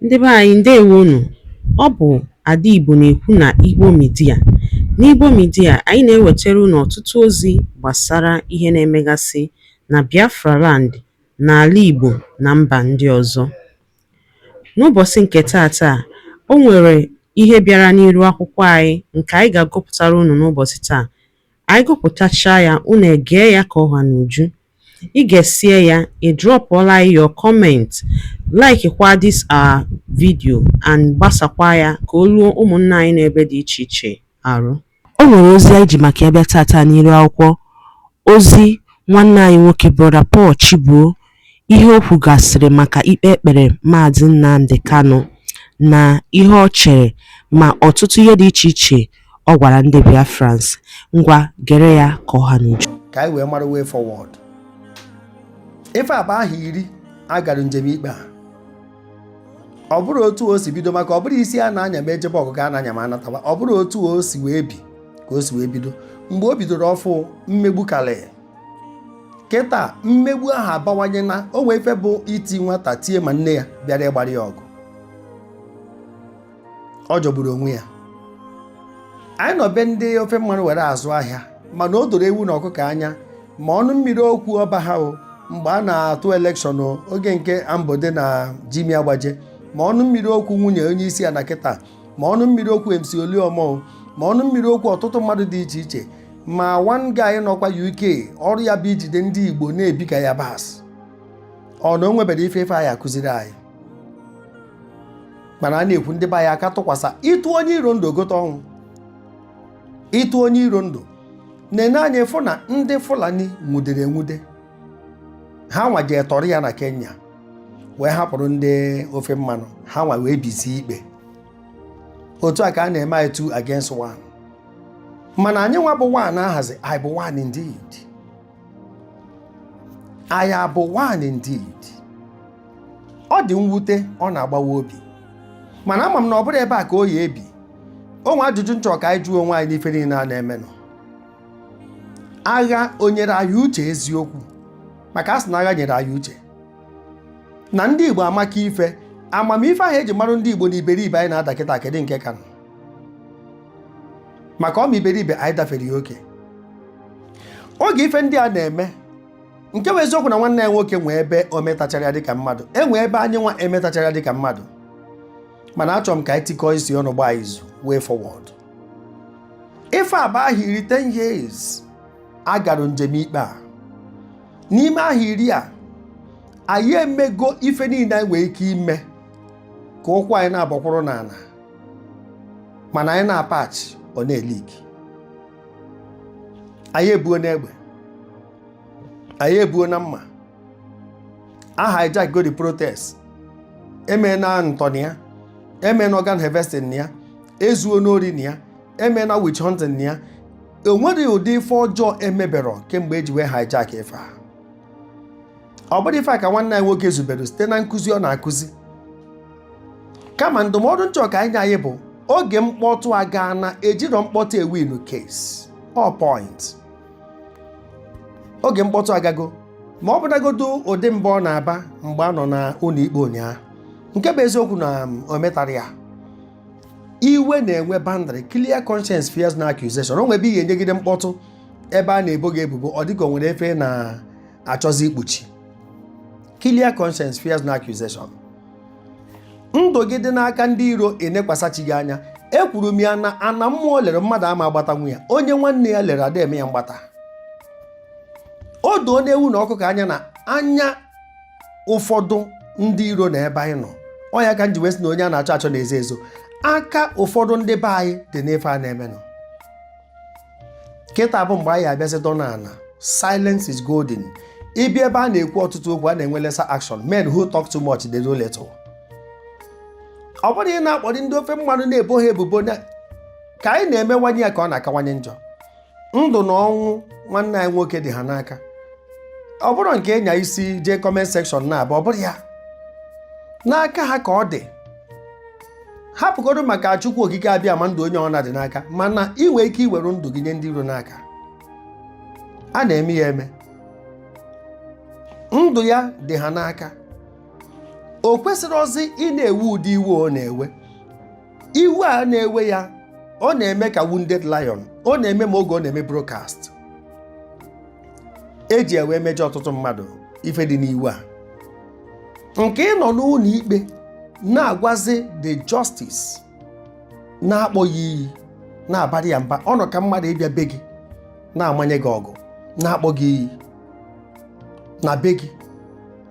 Ndị be anyị ndewo nụ. Ọ bụ Ada Igbo na-ekwu na Igbo Media. N'Igbo Media, anyị na-ewetara unu ọtụtụ ozi gbasara ihe na-emegasị na Biafra land, n'ala Igbo na mba ndị ọzọ. N'ụbọchị nke taata, o nwere ihe bịara n'iru akwụkwọ anyị nke anyị ga-agụpụtara unu n'ụbọchị taa. Anyị gụpụtachaa ya, unu egee ya ka ọ ha n'uju. I gesie ya, ị drọpụọla anyị your comment, laikikwa this our video and gbasakwa ya ka o ruo ụmụnna anyị n'ebe dị iche iche arụ. O nwere ozi anyị ji maka ya bịa taata n'iru akwụkwọ ozi nwanne anyị nwoke Brọda Paul Chibuo ihe o kwugasịrị maka ikpe e kpere Maazị Nnamdi Kanu na ihe ọ chere ma ọtụtụ ihe dị iche iche Ọ gwara ndị Biafrans, ngwa gere ya ka ọ ha n'uju. Ka anyị wee mara way forward. Ife a bụ ahọ iri a gara njem ikpe a. Ọ bụrọ otu o si bido maka ọ bụrọ isi a na-anya ma e jebe ọgụ ka a na-anya ma a natawa ọ bụrọ otu o si wee bi ka o si wee bido mgbe o bidoro ọfụụ mmegbu karị kịta mmegbu ahụ abawanye na o nwee ife bụ iti nwata tie ma nne ya bịara ịgbara ya ọgụ ọ jọgburu onwe ya anyị nọ be ndị ofe mmanụ were azụ ahịa mana o doro ewu na ọkụkọ anya ma ọnụ mmiri okwu ọba ha o mgbe a na-atụ elekshọn o, oge nke ambode na jimi agbaje ma ọnụ mmiri okwu nwunye onye isi ala kịta ma ọnụ mmiri okwu mc oluomo ma ọnụ mmiri okwu ọtụtụ mmadụ dị iche iche ma one guy nọkwa uk ọrụ ya bụ ijide ndị igbo na-ebi ka ya bas ọ na o nwebere ife ife anyị akụziri anyị mana a na-ekwu ndị be anyị aka tụkwasa ịtụ onye iro ndụ o gote ọnwụ ịtụ onye iro ndụ na-ene anya ị fụ na ndị fulani nwudere enwude ha nwa jee tọrọ ya na kenya wee hapụrụ ndị ofe mmanụ ha nwa wee bizie ikpe otu a ka a na-eme anyị two against one mana anyị nwa bụ one ahazi anyị bụ one indeed anyị abụ one indeed ọ dị mwute ọ na-agbawa obi mana ama m na ọ bụrọ ebe a ka ọ ya-ebi o nwe ajụjụ m chọ ka anyị jụọ onwe anyị n'ife niile a na-emenụ agha o nyere anyị uche eziokwu maka a sị na agha nyere anyị uche na ndị Igbo amaka ife amamife ahụ e ji marụ ndị Igbo na iberibe anyị na-ada kịta kedụ nke kanụ maka ọma iberibe anyị dafere ya oke oge ife ndị a na-eme nke bụ eziokwu na nwanne anyị nwoke nwee ebe o metachara ya dịka mmadụ e nwee ebe anyị nwa emetachara ya dịka mmadụ mana achọrọ m ka anyị tikọọ isi ọnụ gbaa izu way forward ife a bụ ahọ iri 10 years a gara njem ikpe a n'ime ahọ iri a anyị emego ife niile anyị nwere ike ime ka ụkwụ anyị na-agbakwụrụ n'ana mana anyị na-apatch ọ na-eleak anyị ebuo n'egbe anyị ebuo na mma a hijackgo the protest eme na ntọ na ya eme na organ harvesting na ya ezuo n'ori na ya eme na witch hunting na ya e nwerọ ụdị ife ọjọọ emeberọ kemgbe eji wee hijack ife a ọ bụrọ ife a ka nwanne anyị nwoke zubere site na nkụzi ọ na-akụzi kama ndụmọdụ m chọ ka anyị nye anyị bụ oge mkpọtụ agaana ejirọ mkpọtụ ewinu case or point oge mkpọtụ agago ma ọ bụnagodu ụdị mba ọ na-aba mgbe a nọ na ụnọ ikpe ụnyaahụ nke bụ eziokwu na o metara ya iwe na-enwe boundary clear conscience fears no accusation o nwe ebe ihe enyegide mkpọtụ ebe a na-ebo gị ebubo ọ dịka o nwere ife ị na-achọzi ikpuchi clear conscience fears no accusation ndụ gị dị n'aka ndị iro i nekwasa chi gị anya ekwuru m ya na ana mmụọ lere mmadụ ama agbatanwu ya onye nwanne ya lere ada eme ya mgbata o doona ewu na ọkụkọ anya na anya ụfọdụ ndị iro na ebe anyị nọ ọ ya ka m ji wee sị na onye a na-achọ achọ na-ezo ezo aka ụfọdụ ndị be anyị dị n'ife a na-emenụ kịta bụ mgbe anyị abịazi dọ n'ana silence is golden ibi ebe a na-ekwu ọtụtụ okwu a na-enwe lesser action men who talk too much they do little ọ bụrọ ị na-akpọrị ndị ofe mmanụ na-ebo ha ebubo ka anyị na-emewanye ya ka ọ na-akawanye njọ ndụ na ọnwụ nwanne anyị nwoke dị ha n'aka ọ bụrọ nke ịnya isi jee comment section na-abụ ọ bụrọ ya n'aka ha ka ọ dị hapụgodu maka chukwu okike abịama ndụ onye ọbụna dị n'aka mana ị nwere ike iwere ndụ gị nye ndị iro n'aka a na-eme ya eme ndụ ya dị ha n'aka o kwesịrọzi ị na-ewe ụdị iwe ọ na-ewe iwe a na-ewe ya ọ na-eme ka wounded lion ọ na-eme ma oge ọ na-eme broadcast eji iwe mejọ ọtụtụ mmadụ ife dị n'iwe a nke ị nọ n'ụnọ ikpe na-agwazi the justice na-akpọ ya iyi na-abara ya mba ọ nọ ka mmadụ ịbịa be gị na-amanye gị ọgụ na-akpọ gị iyi na be gị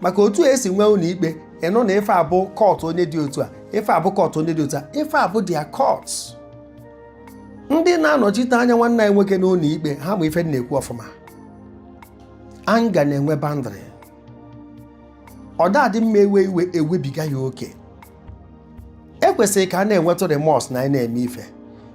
maka otu e si nwee ụnọ ikpe ị nụ na ife a bụ court onye dị otu a ife a bụ court onye dị otu a ife a bụ their court ndị na-anọchite anya nwanne anyị nwoke n'ụnọ ikpe ha ma ife na-ekwu ọfụma anger na-enwe boundary ọ da-adị mma e wee iwe ewebiga ya oke e kwesịrị ka a na-enwetụ remorse na anyị na-eme ife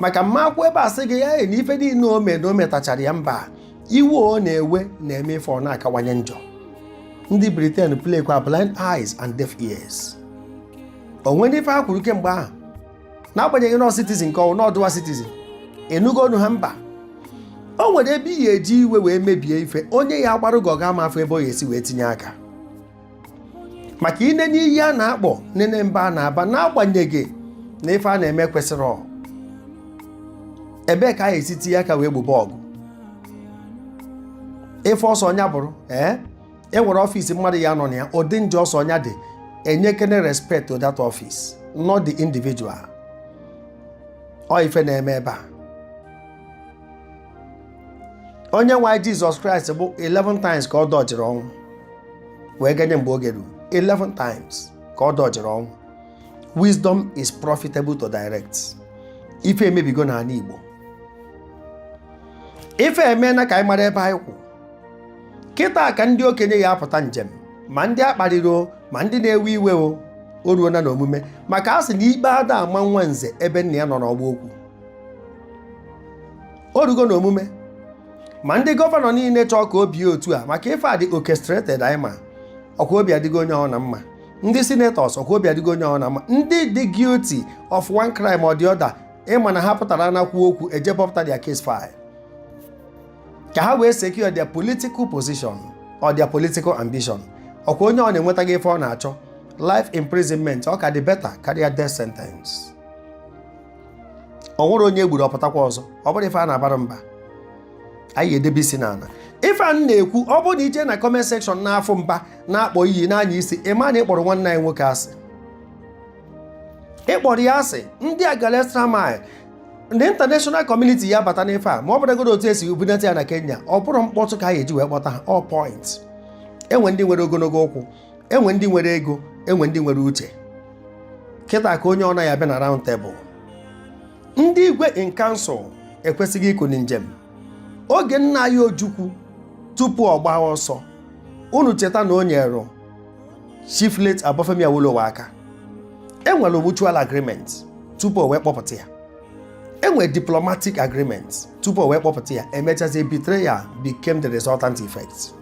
maka mma akwụ ebe a sị gị ya na ife niile o mee na o metachara ya mba iwe ọ na-ewe na-eme ife ọ na-akawanye njọ ndị Britain playkwa blind eyes and deaf ears o nwere ife ha kwuru kemgbe ahụ n'agbanyeghị na ọ citizen ka ọ wụ na ọ dual citizen ị nụgo ọnụ ha mba o nwere ebe ị ya-eji iwe wee mebie ife onye ya agbarụ gị ọgụ ama afụ ebe ọ ya-esi wee tinye aka maka i nene iyi a na-akpọ nene mba a na-aba n'agbanyeghị na ife a na-eme kwesịrị ọ ebee ka a ya-esi tinye aka wee gbobe ọgụ ife ọ sọ nya bụrụ ee e nwere ọfịs mmadụ ya anọ na ya ụdị njọ ọ sọ nya dị e nyekene respect to that office not the individual ọ ife na-eme ebe a onye nwe anyị jizọs kraịst bụ 11 times ka ọ dọjiri ọnwụ wee ganye mgbe oge ruru 11 times ka ọ dọjiri ọnwụ wisdom is profitable to direct ife emebigo n'anị igbo ife emena ka anyị mara ebe anyị kwụ kịta ka ndị okenye ya apụta njem ma ndị a kparịrị o ma ndị na-ewe iwe o o ruona n'omume maka a sị na ikpe ada ama nwa nze ebe nna ya nọ n'ọgba okwu o rugo n'omume ma ndị gọvanọ niile chọọ ka o bie otu a maka ife a dị orchestrated anyị ma ọkwa obi adịgo onye ọna mma ndị senators ọkwa obi adịgo onye ọna mma ndị dị guilty of one crime or the other ị ma na ha pụtara na kwuo okwu e jee bọpụta their case file ka ha wee secure their political position or their political ambition ọkwa onye ọna enwetago ife ọ na-achọ life imprisonment ọ ka dị better karịa death sentence o nwere onye e gburu ọ pụtakwa ọzọ ọ bụrọ ife a na-abara mba anyị edebe isi n'ana ife a na-ekwu ọ bụrụ na i je na comment section na-afụ mba na-akpọ iyi n'anya isi ị ma na ị kpọrọ nwanne anyị nwoke asị ị kpọrọ ya asị ndị a gala extra mile ndị international community ya abata n'ife a ma ọ bụrụgodu otu e si bunata ya na kenya ọ bụrọ mkpọtụ ka a ya-eji wee kpọta ha ọ point e nwe ndị nwere ogonogo ụkwụ e nwe ndị nwere ego e nwe ndị nwere uche kịta ka onye ọna ya abịa na round table ndị igwe in council ekwesịgo ikuni njem oge nna anyị ojukwu tupu ọ gbaa ọsọ unu cheta na o nyere Chief late Obafemi Awolowo aka enwere mutual agreement tupu o wee kpọpụta ya enwere diplomatic agreement tupu o wee kpọpụta ya emechazie betrayal became the resultant effect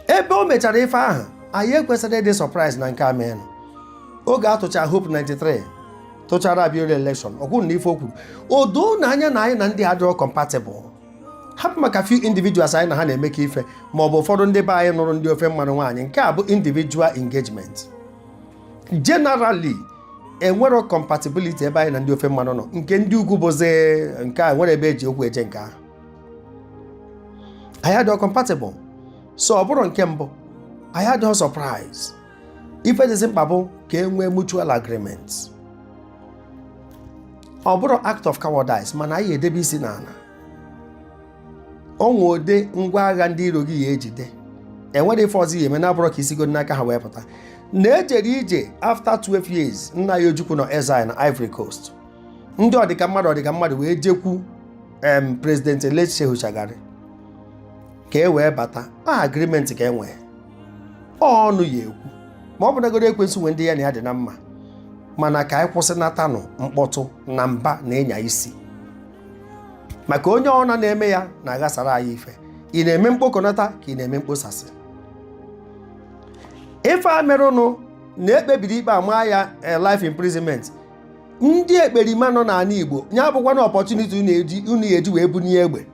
ebe o mechara ife ahụ anyị ekwesịrọ ịdị surprise na nke a meenụ oge a tụchara Hope 93 tụchara Abiola election ọ kwụrụ na ife o kwuru o doo na anya na anyị na ndị a adịrọ compatible hapụ maka few individuals anyị na ha na-emekọ ife ma ọ bụ ụfọdụ ndị be anyị nụrụ ndị ofe mmanụ nwaanyị nke a bụ individual engagement generally enwerọ compatibility ebe anyị na ndị ofe mmanụ nọ nke ndị ugwu bụzi nke enwerọ ebe eji okwu eje nke ahụ anyị adịghị compatible so ọ bụrọ nke mbụ anyị adịghị surprise ife dịzi mkpa bụ ka e nwee mutual agreement ọ bụrọ act of cowardice mana anyị edebe isi n'ala o nwee ụdị ngwa agha ndị iro gị ya ejide enwerọ ife ọzọ ya eme na-abụrọ ka isigo n'aka ha wee pụta na ejere ije after 12 years nna anyị Ojukwu nọ exile na Ivory Coast ndị ọdịka mmadụ ọdịka mmadụ wee jekwu em president late Shehu Shagari ka e wee bata a agreement ka e nwee ọnụ ya ekwu ma ọ bụnagoro ekwensu nwe ndị ya na ya dị na mma mana ka anyị kwụsịnatanụ mkpọtụ na mba na ịnya isi maka onye ọna na-eme ya na-aghasara anyị ife ị na-eme mkpokọnata ka ị na-eme mkposasị ife a merụnụ na ekpebiri ikpe ama ya eh, life imprisonment ndị ekperima nọ n'ala Igbo ya abụkwana opportunity unu ya eji wee bunie egbe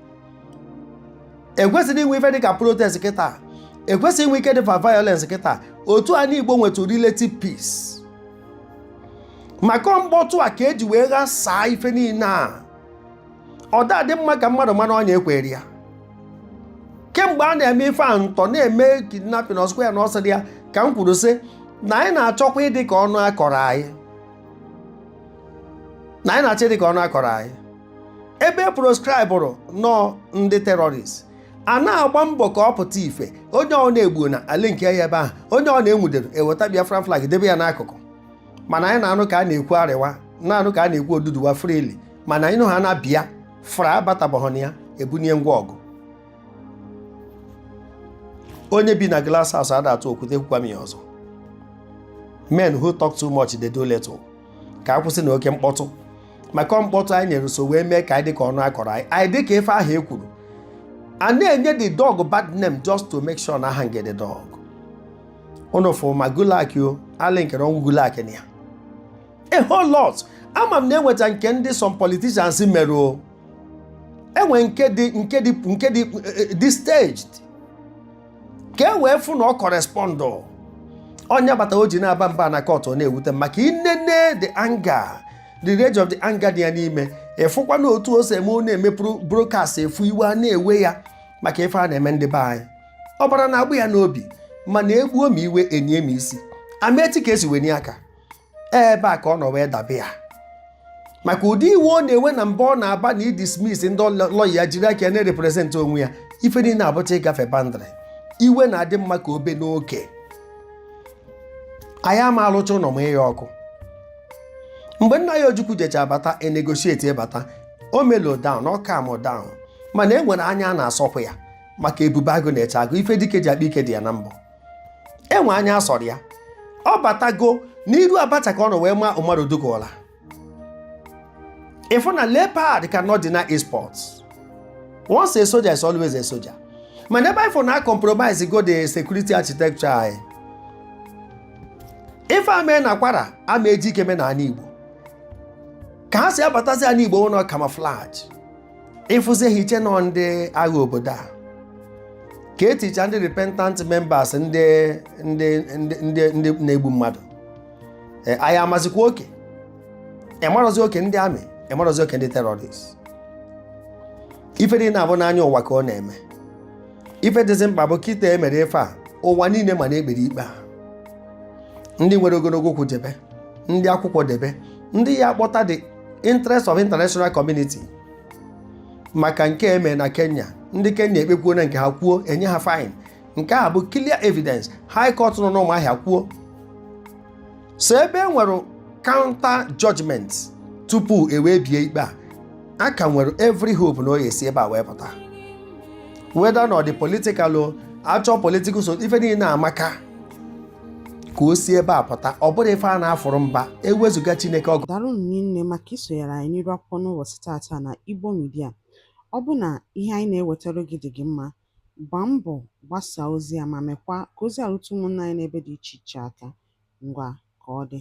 ekwesịrọ inwe ife dịka protest kịta ekwesịrọ inwe ike dịfa violence kịta otu ana Igbo nwetụ relative peace maka mkpọtụ a ka eji wee ghasaa ife niile a ọ dadị mma ka mmadụ ma n'ọnya ekwere ya kemgbe a na-eme ife a ntọ na-eme kidnapping ọsụkwa ya na ọsọ dị ya ka m kwuru sị na anyị na-achọkwa ịdị ka ọnụ akọrọ anyị na anyị na-achọ ịdị ka ọnụ akọrọ anyị ebe e proscribụrụ nọọ ndị terrorist a na-agba mbọ ka ọ pụta ife onye ọna egbuo na ala nke ya ebe ahụ onye ọna enwudere eweta Biafra flag debe ya n'akụkụ mana anyị na-anụ ka a na-ekwu Arewa na-anụ ka a na-ekwu Oduduwa freely mana ịnụ ha na Biafra abatabaghị na ya ebunye ngwa ọgụ onye bi na glass house ada atụ okwute kwukwa m ya ọzọ men who talk too much they do little ka akwụsị na oke mkpọtụ maka mkpọtụ anyị nyere so wee mee ka anyị dịka ọnụ akọrọ anyị anyị dịka ife ahụ e kwuru a na-enye the dog bad name just to make sure na a hang the dog unu fụ ma Gulak o a linkere ọnwụ Gulak na ya a whole lot ama m na enwecha nke ndị some politicians mere o enwe nke dị nke dị nke dị eh, eh, staged ka e wee fụ na ọ correspond onye bata o ji na-aba mba na court ọ na-ewute m maka inene the anger the rage of the anger dị ya n'ime ịfụkwa na otu o si eme ọ na-eme broadcast ịfụ iwe a na-ewe ya maka ife a na-eme ndị be anyị ọbara na-agbọ ya n'obi mana egbuo m iwe enie m isi a ma eti ka esi wenie aka ebe a ka ọ nọ wee dabe ya maka ụdị iwe ọ na-ewe na mba ọ na-aba na ịdismiss ndị lọya ya jiri aka na-represent onwe ya ife niile abụcha ịgafe boundary iwe na-adị mma ka o bee n'oke anyị ama alụcha ụlọ mụa ya ọkụ mgbe nna ya ojukwu jechaa bata negotiate ebata o mellow down ọ calm down mana e nwere anya a na-asọpụ ya maka ebube agụ na-eche agụ ife dike ji akpa ike dị ya na mbọ enwe anya asọrọ ya ọ batago n'iru abacha ka ọ nọ wee maa Umaru Dikko ụla ịfụ na leopard cannot deny its spots once a soldier is always a soldier mana ebe ịfụ na a compromisego the security architecture anyị ife eme na kwara ama eji ike me na ana igbo ka ha si abatazi ana igbo bụ na camouflage ịfụzi ha iche na ọ ndị agha obodo a ka eticha ndị repentant members ndị na-egbu mmadụ Ee, anyị amazikwa oke ịmarọzi oke ndị army ịmarọzi oke ndị terrorist ife dị na ya bụ n'anya ụwa ka ọ na-eme ife dịzi mkpa bụ kịta e mere ife a ụwa niile ma na e kpere ikpe a ndị nwere ogologo ụkwụ jebe ndị akwụkwọ debe ndị ya akpọta the interest of international community maka nke eme na Kenya ndị Kenya ekpekwuo na nke ha kwuo enye ha fine nke a bụ clear evidence high court nọ n'Ụmụahịa kwuo so ebe e nwere counter judgment tupu ewee bie ikpe a a ka nwere every hope na ọ ya-esi ebe a wee pụta whether na ọ dị political o achọ political so ife niile amaka ka o si ebe a pụta ọ bụrụ ife a na-afụrụ mba ewezuga Chineke ọ gwụ daalụ rinne maka isonyere anyị n'iru akwụkwọ n'ụbọchị taata na Igbo Media ọ bụ na ihe anyị na-ewetara gị dị gị mma gbaa mbọ gbasaa ozi a ma mekwa ka ozi a rute ụmụnna anyị n'ebe dị iche iche aka ngwa ka ọ dị